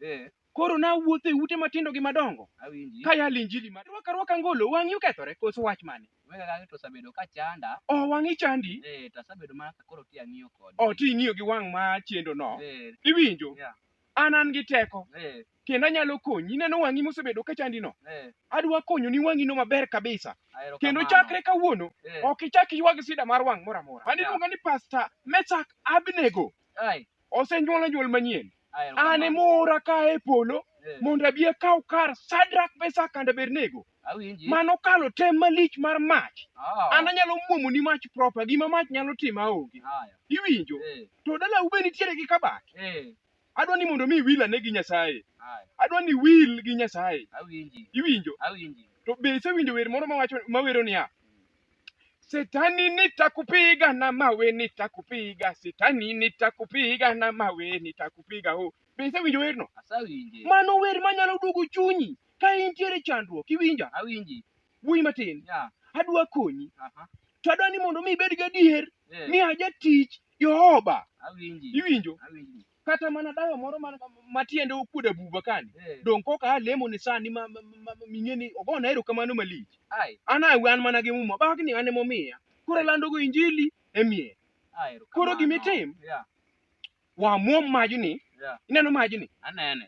Eh, Koro nawuotho e ute matindo gi madongo awinji. ka yalo injili mar rwaka rwaka ngolo wang'i okethore koso wach mane? Wega kaka to osebedo ka chanda. Oh wang'i chandi? Eh, to asebedo mana ka koro ti ang'iyo kode. Oh ti ing'iyo gi wang' ma chendo no. Eh, Iwinjo? Yeah. An an gi teko eh, kendo anyalo konyi. Ineno wang'i mosebedo ka chandi no? eh, Adwa konyoni wang'i no maber kabisa. ahero Kendo kamano. chakre kawuono Eh, ok ichak iywag sida mar wang' moro amora. Mano Yeah. iluongo ni Pastor Meshak Abnego. ai, osenyuola nyuol manyien an emoora ka e polo mondo abi akaw kar sadrak mesak kanda bernego mano kalo tem malich mar mach an anyalo mwomo ni mach propa gima mach nyalo timo aonge iwinjo to dalau be nitiere gi kabat adwa ni mondo mi wil ane gi nyasaye adwa ni wil gi nyasaye iwinjo to be isewinjo wer moro mawacho mawero niya Shetani nitakupiga na mawe nitakupiga, shetani nitakupiga na mawe nitakupiga. Oh, be isewinjo werno? Asawinje. Mano wer manyalo duogo chunyi ka intiere chandruok, iwinja? Awinji. Wuoyi matin, Ya. adwa konyi, Aha. to adwa ni mondo mi ibed gadier Eh. ni ajatich Jehova. Awinji. Iwinjo? Awinji. kata mana dawa moro ma- ma- ma tiende okuodo abuba kani Eh, donge kok aa lemo ni sani ma- ma- ma- ma- ming'e ni ogona erokamano malich ai, an awe an mana gi muma bagni an emomiya koro landogo injili e mier ai, erokamano. Koro gima itim? Yeah, wamwom majni yeah, ineno majni anene.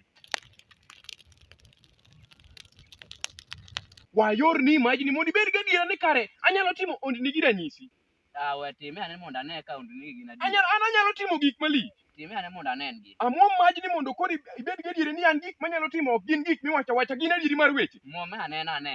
wayorni majni mondo ibed gadiera ni kare anyalo timo ondni gi ranyisi Ah, we time ane mondo ane ka ondini gin adier. Anyalo, an anyalo timo gik malich. Time ane mondo anen gi. Amwom maj ni mondo koro ib- ibed gadieri ni an gik manyalo timo ok gin gik miwacho awacha, gin adieri mar weche. Mwom ane na ane.